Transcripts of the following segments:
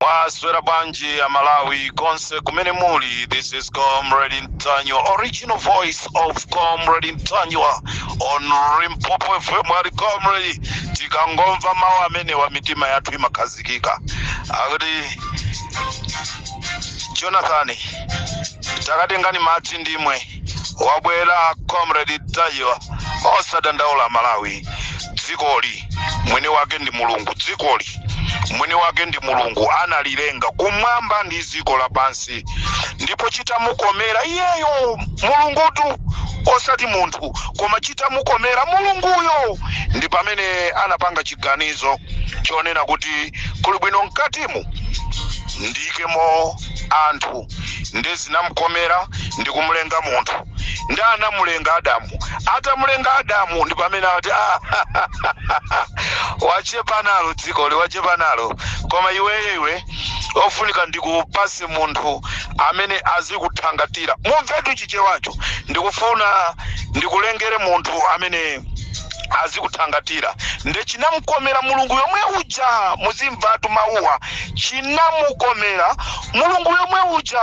Mwaswera bwanji a Malawi konse kumene muli this is Comrade Ntanyiwa original voice of Comrade Ntanyiwa on Limpopo FM ali Comrade tikangomva mawu amenewa mitima yathu imakhazikika akuti Jonathan takatengani madzi ndimwe wabwera comrade Ntanyiwa osadandaula malawi dzikoli mwini wake ndi mulungu dzikoli mwini wake ndi mulungu analilenga kumwamba ndi dziko lapansi ndipo chitamukomera iyeyo mulungutu osati munthu koma chitamukomera mulunguyo ndi pamene anapanga chiganizo chonena kuti kuli bwino mkatimu ndiikemo anthu nde zinamukomera ndikumulenga munthu nde anamulenga adamu atamulenga adamu ndi pamene ati "Ah, wachepa nalo dzikoli wachepa nalo koma iweyo iwe ofunika ndikupase munthu amene azikuthangatira mumvetu chichewacho ndikufuna ndikulengere munthu amene azikuthangatira nde chinamukomera mulungu yomwe uja muzimvatu mawuwa chinamukomera mulungu yomwe uja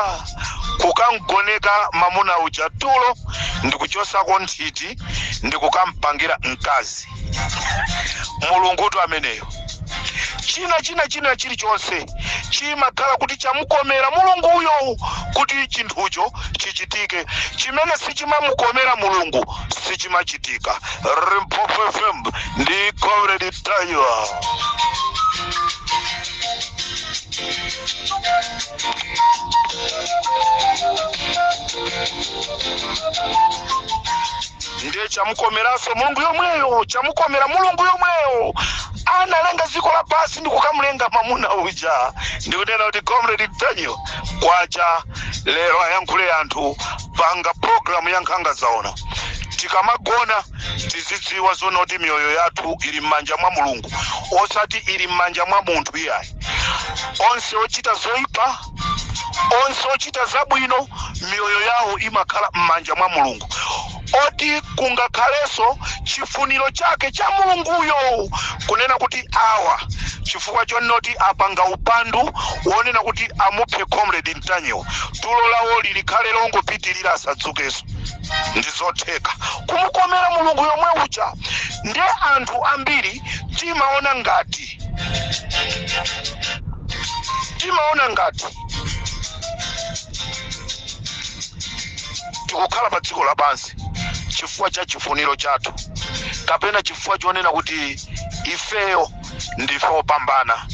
kukamgoneka mamuna uja tulo ndikuchosako nthiti ndikukampangira mkazi mulungutu ameneyo china china china chilichonse chimakhala kuti chamukomera mulunguyo kuti chinthucho chichitike chimene sichimamukomera mulungu sichimachitika limpopo fm ndi comrade Ntanyiwa ndiye chamukomeranso mulungu yomweyo chamukomera mulungu yomweyo analenga dziko lapansi ndi kukamulenga mamuna uja ndikunena kuti comrade Ntanyiwa kwacha lero ayankhule anthu panga program ya nkhanga zaona tikamagona tizidziwa zonoti miyoyo yathu ili m'manja mwa mulungu osati ili m'manja mwa munthu iyayi onse ochita zoipa onse ochita zabwino miyoyo yawo imakhala m'manja mwa mulungu oti kungakhalenso chifuniro chake cha mulunguyo kunena kuti awa chifukwa chonena kuti apanga upandu wonena kuti amuphe comrade Ntanyiwa tulo lawoli likhale longopitilira asadzukeso ndizotheka kumukomera mulungu yomwe uja nde anthu ambiri timaona ngati timaona ngati tikukhala pa dziko lapansi chifukwa cha chifuniro chathu kapena chifukwa chonena kuti ifeyo ndife opambana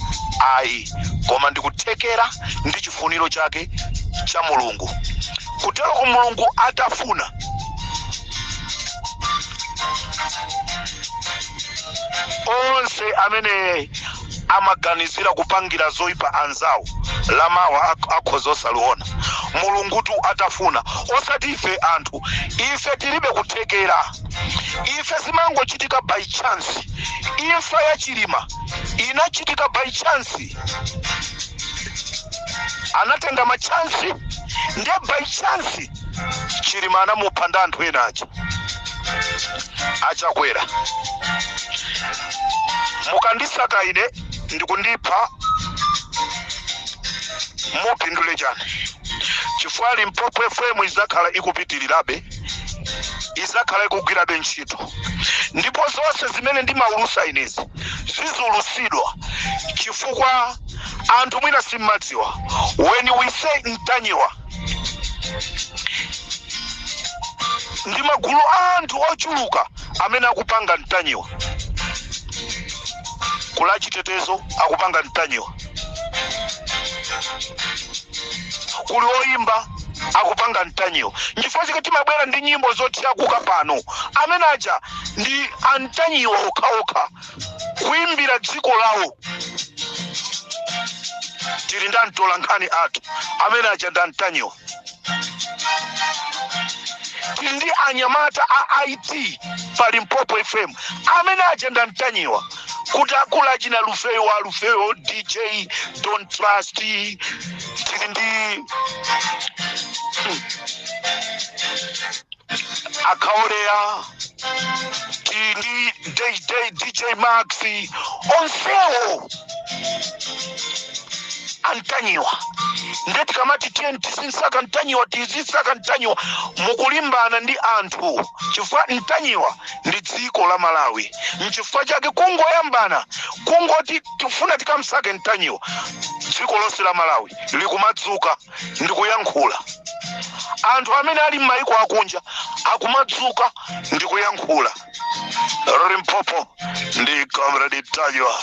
ayi koma ndikuthekera ndi chifuniro chake cha mulungu kutero kuti mulungu atafuna onse amene amaganizira kupangira zoyipa anzawo lamawa akhoza osaliona mulungutu atafuna osati ife anthu ife tilibe kuthekera ife zimangochitika by chance imfa ya chilima inachitika by chance anatenga machansi nde by chance chilima anamupha ndi anthu ena aja achakwera mukandisaka ine ndikundipha mupindule chani chifukwa limpopo fm izakhala ikupitirirabe izakhala ikugwirabe ntchito ndipo zonse zimene ndimaulusa inezi ziziulusidwa chifukwa anthu mwina simmadziwa when we say mtanyiwa ndi magulu a anthu ochuluka amene akupanga mtanyiwa kuli achitetezo akupanga mtanyiwa kuli oyimba akupanga mtanyiwa nchifukwa chake timabwera ndi nyimbo zothyakuka pano amene aja ndi amtanyiwa okhaokha kuimbira dziko lawo tili ndi amtolankhani athu amene aja ndi amtanyiwa ndi anyamata a it pa limpopo fm amene aja ndi amtanyiwa kutakula achina lufeyo wa lufeyo dj don't trust tili ndi akaoleya tili ndi dj max onsewo antanyiwa nde tikamati tiyeni tizimsaka ntanyiwa tizimsaka ntanyiwa mukulimbana ndi anthu chifukwa ntanyiwa ndi dziko la malawi mchifukwa chake kungoyambana kungoti tifuna tikamsake ntanyiwa dziko lonse la malawi likumadzuka ndi kuyankhula anthu amene ali m'mayiko akunja akumadzuka ndi kuyankhula limpopo ndi comrade ntanyiwa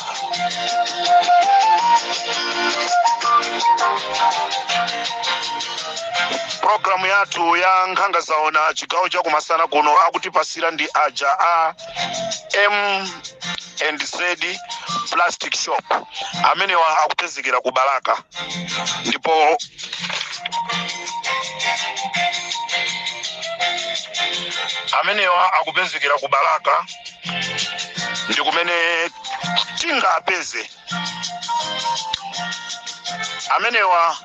programu yathu ya nkhanga zaona chigawo cha kumasana kuno akutipasira ndi aja a m and z plastic shop amenewa akupezekera ku balaka ndipo amenewa akupezekera ku balaka ndi kumene tingapeze amenewa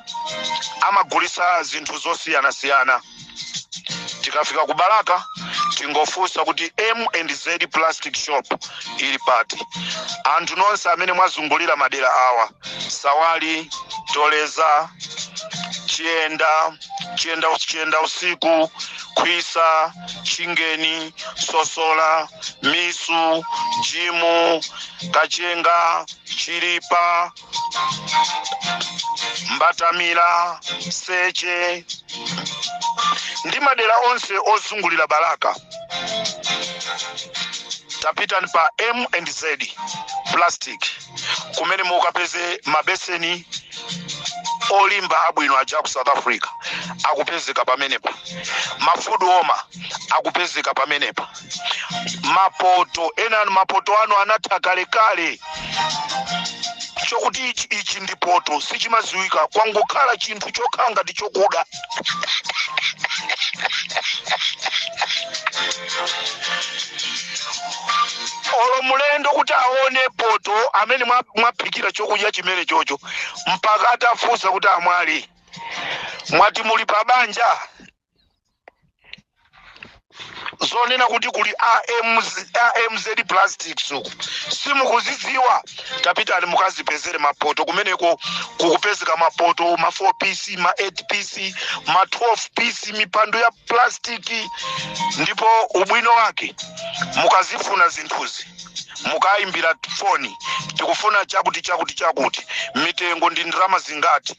amagulisa zinthu zosiyanasiyana tikafika ku balaka tingofunsa kuti m and z plastic shop ili pati anthu nonse amene mwazungulira madera awa sawali toleza chiyenda usiku khwisa chingeni sosola misu jimu kachenga chilipa mbatamila seche ndi madera onse ozungulira balaka tapitani pa m and z plastic kumene mukapeze mabeseni olimba abwino aja ku south africa akupezeka pamenepa ma food warmer akupezeka pamenepa mapoto enanu mapoto anu anatha kalekale chokuti ichi ndi poto sichimaziwika kwangokhala chinthu chokhala ngati chokuda olo mulendo kuti aone poto amene mwaphikira chokudya chimene chocho mpaka atafunsa kuti amwali mwati muli pa banja zonena kuti kuli a MZ plastics uku simukuzidziwa tapitani mukazipezere mapoto kumeneko kukupezeka mapoto ma 4 piece ma 8 piece ma 12 piece mipando ya plastiki ndipo ubwino wake mukazifuna zinthuzi mukayimbira foni tikufuna chakuti chakuti chakuti mitengo ndi ndalama zingati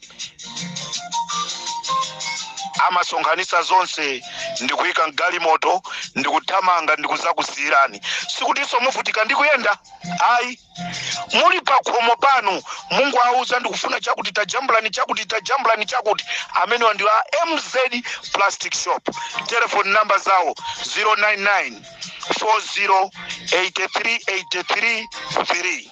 amasonkhanitsa zonse ndikuyika mgalimoto ndikuthamanga ndikuzakusiyirani sikutinso muvutika ndikuyenda ayi muli pakhomo panu mungowauza ndikufuna chakuti tajambulani chakuti tajambulani chakuti amenewa ndi a mz plastic shop telefoni namba zawo 099 40 83 83 3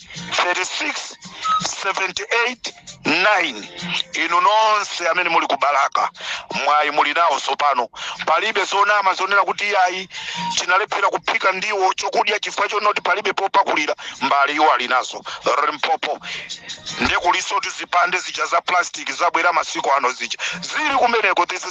36 78 9 inu nonse amene muli ku balaka mwayi muli nawo tsopano palibe zonama zonena kuti iyayi tinalephera kuphika ndiwo chokudya chifukwa chonena kuti palibe popakulira mbali iwo ali nazo limpopo nde kulinso tizipande zija za plastic zabwera masiku ano zija zili kumeneko this is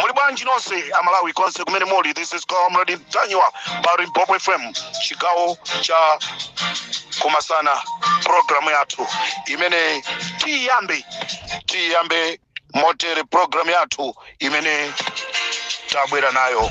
muli bwanji nonse amalawi konse kumene muli this is comrade mtanyiwa pa limpopo fm chigawo cha kumasana programu yathu imene tiiyambe tiiyambe motere programu yathu imene tabwera nayo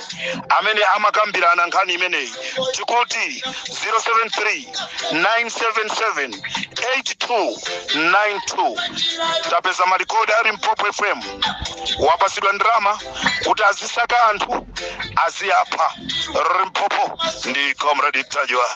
amene amakambirana nkhani imeneyi tikuti 073 977 8292 tapeza malikodi a limpopo fm apasidwa ndalama kuti azisaka anthu aziwapha limpopo ndi comrade mtanyiwa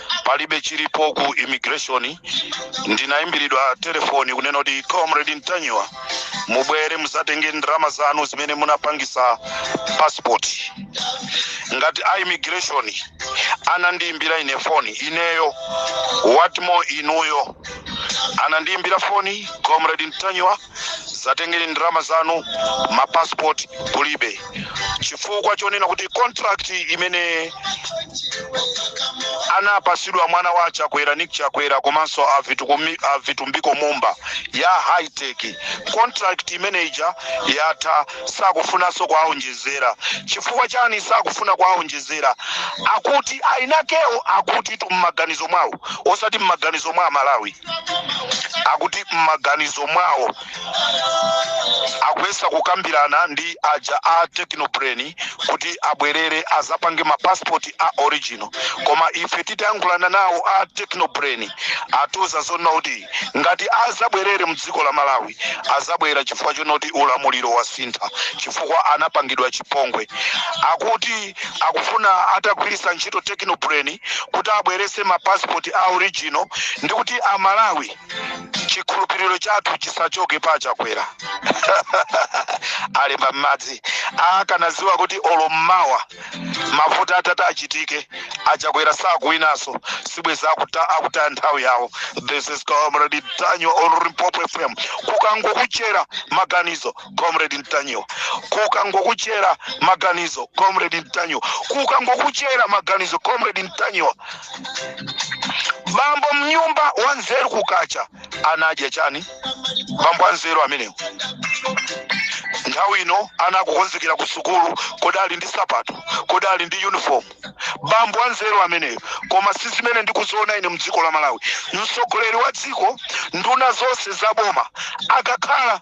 palibe chilipo ku immigration ndinayimbiridwa telefoni kunena kuti comrade mtanyiwa mubwere muzatenge ndalama zanu zimene munapangisa passport ngati a immigration anandiyimbira ine foni ineyo what more inuyo anandiyimbira foni comrade mtanyiwa zatengeni ndalama zanu ma passport kulibe chifukwa chonena kuti contract imene anapasidwa mwana wa achakwera nick chakwera komanso avitumbiko mumba ya high tech contract imene ija yatha sakufunanso kuwaonjezera chifukwa chani sakufuna kuwaonjezera akuti ainakewo akutitu mmaganizo mwawo osati mmaganizo mwa amalawi akuti m'maganizo mwawo akuyesa kukambirana ndi aja a technobrain kuti abwerere azapange mapasipoti a original koma ife titayankhulana nawo a technobrain atiuza zonena kuti ngati azabwerere mdziko la malawi azabwera chifukwa chonoti ulamuliro wasintha chifukwa anapangidwa chipongwe akuti akufuna atagwiritsa ntchito technobrain kuti abweretse ma passport a original ndi kuti amalawi chikhulupiriro chathu chisachoke pa achakwera alemba m'madzi akanadziwa kuti olo mmawa mavoti atati achitike achakwera sakuwinaso sibwezi akuta akutaya nthawi yawo this is comrade mtanyiwa on limpopo fm kukangokuchera maganizo comrade mtanyiwa kukangokuchera maganizo comrade mtanyiwa kukangokuchera maganizo comrade mtanyiwa bambo mnyumba wanzeru kukacha ana adya chani bambo anzeru amenewo nthawi ino ana akukonzekera ku sukulu kodi ali ndi sapato kodi ali ndi uniform bambo anzeru ameneyo koma si zimene ndikuziona ine mdziko la malawi mtsogoleri wa dziko nduna zonse za boma akakhala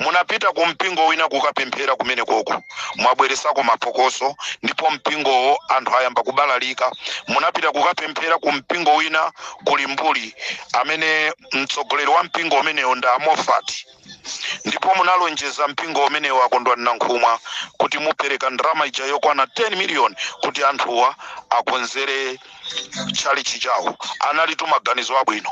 munapita ku mpingo wina kukapemphera kumene koko mwabweresako mapokoso ndipo mpingowo anthu ayamba kubalalika munapita kukapemphera ku mpingo wina ku limbuli amene mtsogoleri wa mpingo umenewo ndi a moffat ndipo munalonjeza mpingo umenewo a kondwani nankhumwa kuti mupereka ndalama ija yokwana 10 miliyoni kuti anthuwa akonzere tchalitchi chawo analitu maganizo abwino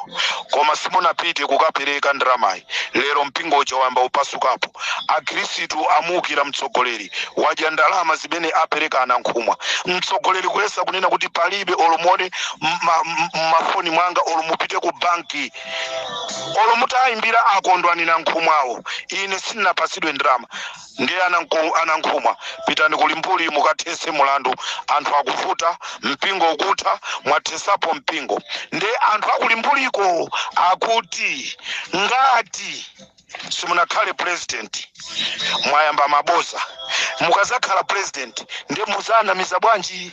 koma simunapite kukapereka ndalamayi lero mpingo uja wayamba kupasukapo akhristu amuwukira mtsogoleri wadya ndalama zimene apereka a nankhumwa mtsogoleri kuyesa kunena kuti palibe olo muone mmafoni mwanga olo mupite ku banki olo mutayimbira a kondwani nankhumwawo ine sinapasidwe ndalama ndiye a nankhumwa pitani ku limbuli mukathese mulandu anthu akuvuta mpingo ukutha mwathesapo mpingo ndiye anthu a ku limbuliko akuti ngati simunakhale president mwayamba maboza mukazakhala president ndiye muzawanamiza bwanji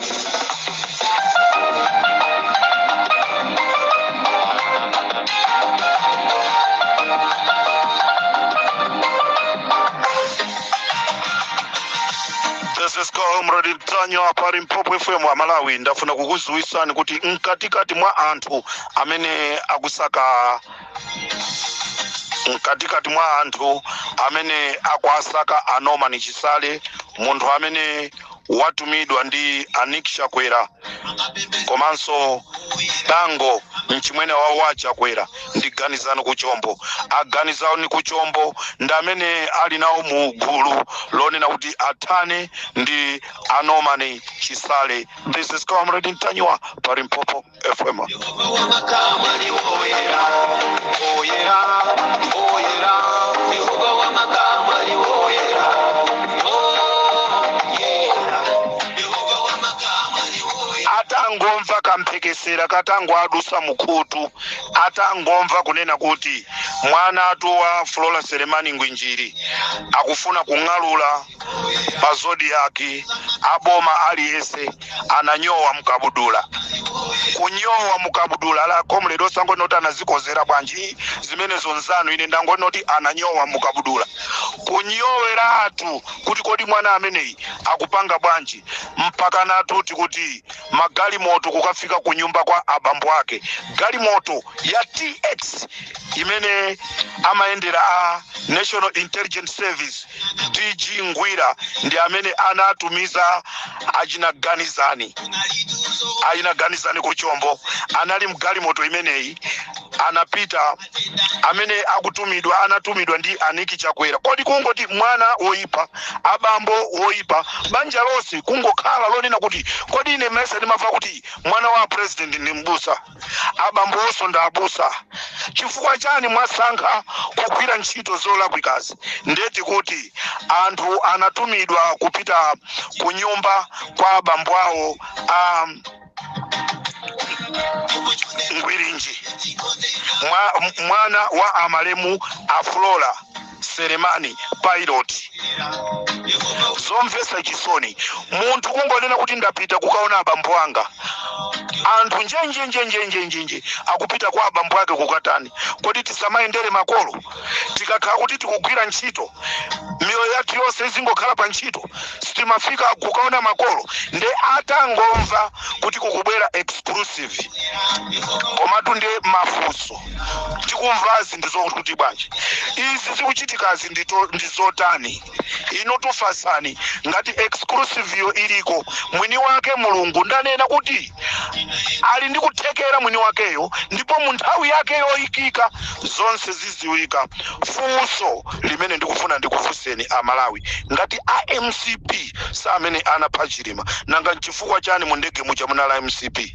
comrade ntanyiwa pa limpopo fm amalawi ndafuna kukudziwitsani kuti mkatikati mwa anthu amene akusaka mkatikati mwa anthu amene akuwasaka a norman chisale munthu amene watumidwa ndi a Nick Chakwera komanso Bango mchimwene wawo wa Chakwera ndi Ganizani Kuchombo. A Ganizani Kuchombo ndi amene ali nawo mu gulu lonena kuti athane ndi a Norman Chisale. This is Comrade Ntanyiwa pa Limpopo. fm Yehova wa makamu ali woyera, woyera, woyera. Yehova wa makamu ali woyera, woyera. Yehova wa makamu ali woyera. atangomva kamphekesera katango adusa mukhutu atangomva kunena kuti mwana atu wa flora selemani ngwinjiri akufuna kung'alula pa zodiyaki aboma aliyese ananyowa mukabudula kunyowa mukabudula a comrade osangonena kuti anazikozera bwanji zimenezo nzanu ine ndangonena kuti ananyowa mukabudula kunyoweratu kuti kodi mwana ameneyi akupanga bwanji mpaka natuti kuti magalimoto kukafika ku nyumba kwa abambo ake galimoto ya tx imene amayendera a national intelligence service DG Ngwira ndi amene anatumiza achina Ganizani achina Ganizani ku Chombo anali mgalimoto imeneyi anapita amene akutumidwa anatumidwa ndi a Nick Chakwera. Kodi kungoti mwana woipa, abambo woipa, banja lonse kungokhala lonena kuti kodi ine mesa ndimamva kuti mwana wa president ndi mbusa. abambo awonso ndi abusa chifukwa chani mwasankha kugwira ntchito zolakwikazi ndeti kuti anthu anatumidwa kupita ku nyumba kwa abambo awo a ngwirinji mwana wa amalemu a Flora selemani pilot zomvesa chisoni munthu kungonena kuti ndapita kukaona abambo anga anthu njenjenjenjenjenjenje akupita kwa abambo ake kukatani kodi tisamayendere makolo tikakhala kuti tikugwira ntchito miyoyo yathu yonse izingokhala pa ntchito sitimafika kukaona makolo nde atangomva kuti kukubwera exclusive komatu nde mafunso tikumvazi ndi zokuti bwanji izi zikuchitikazi ndito- ndi zotani ino tifatseni ngati exclusive yo iliko mwini wake mulungu ndanena kuti ali ndi kuthekera mwini wakeyo ndipo mu nthawi yake yoyikika zonse ziziwika funso limene ndikufuna ndikufunseni amalawi ngati a mcp si amene anapha chilima nanga nchifukwa chani mu ndege muja munalibe a mcp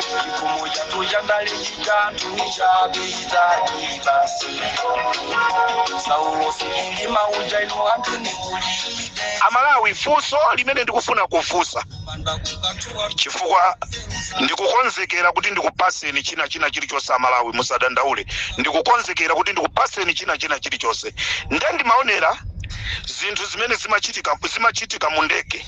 chikomo chathu chandale chitatu chapita ibasi saulo silili mauja ino anthu ndikulibe amalawi funso limene ndikufuna kufunsa manda kukatuwa chifukwa ndikukonzekera kuti ndikupaseni china china chilichonse amalawi musadandaule ndikukonzekera kuti ndikupaseni china china chilichonse nde ndimaonera zinthu zimene zimachitika mu ndege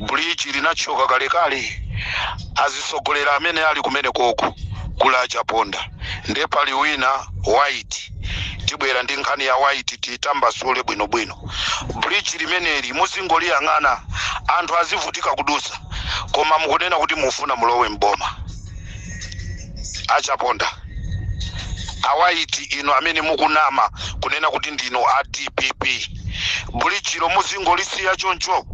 bridge linathyoka kalekale azitsogoleri amene ali kumeneko ko kuli achaponda nde pali wina white tibwera ndi nkhani ya white titambasule bwinobwino bridge limeneli muzingoliyang'ana anthu azivutika kudutsa koma mukunena kuti mufuna mulowe mboma achaponda a white inu amene mukunama kunena kuti ndinu a dpp bulijilo muzingolisiya choncho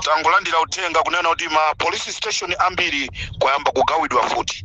tangolandira uthenga kunena kuti ma police station ambiri kwayamba kugawidwa mfuti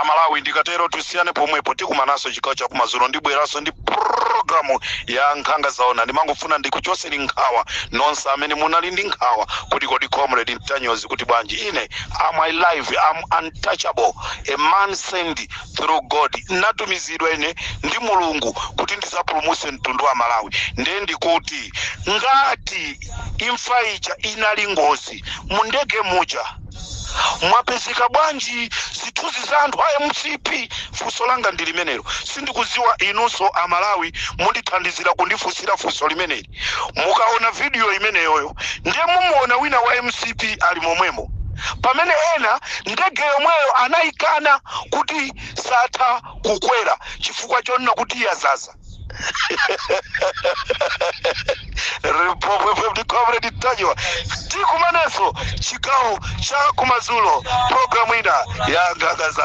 amalawi ndikatero tusiyane pomwepo tikumanaso chigawo chakumadzulo ndibweraso ndi programu ya nkhanga zaona ndimangofuna ndikuchoseni nkhawa nonse amene munali ndi nkhawa kuti kodi comrade ntanyiwa kuti bwanji ine am alive am untouchable a man sent through god natumizidwa ine ndi mulungu kuti ndizapulumuse mtundu wa malawi ndiye ndikuti ngati imfa ija inali ngozi mu ndege muja mwapezeka bwanji zithunzi za anthu a mcp funso langa ndi limenelo sindikuziwa inunso amalawi mundithandizira kundifunsira funso limeneli mukaona vidiyo imeneyoyo ndiye mumuona wina wa mcp ali momwemo pamene ena ndege yomweyo anayikana kuti satha kukwera chifukwa chonena kuti yazaza ripopwepo ndi comrade ntanyiwa tikumananso chigawo cha kumadzulo programu ina ya nkhanga za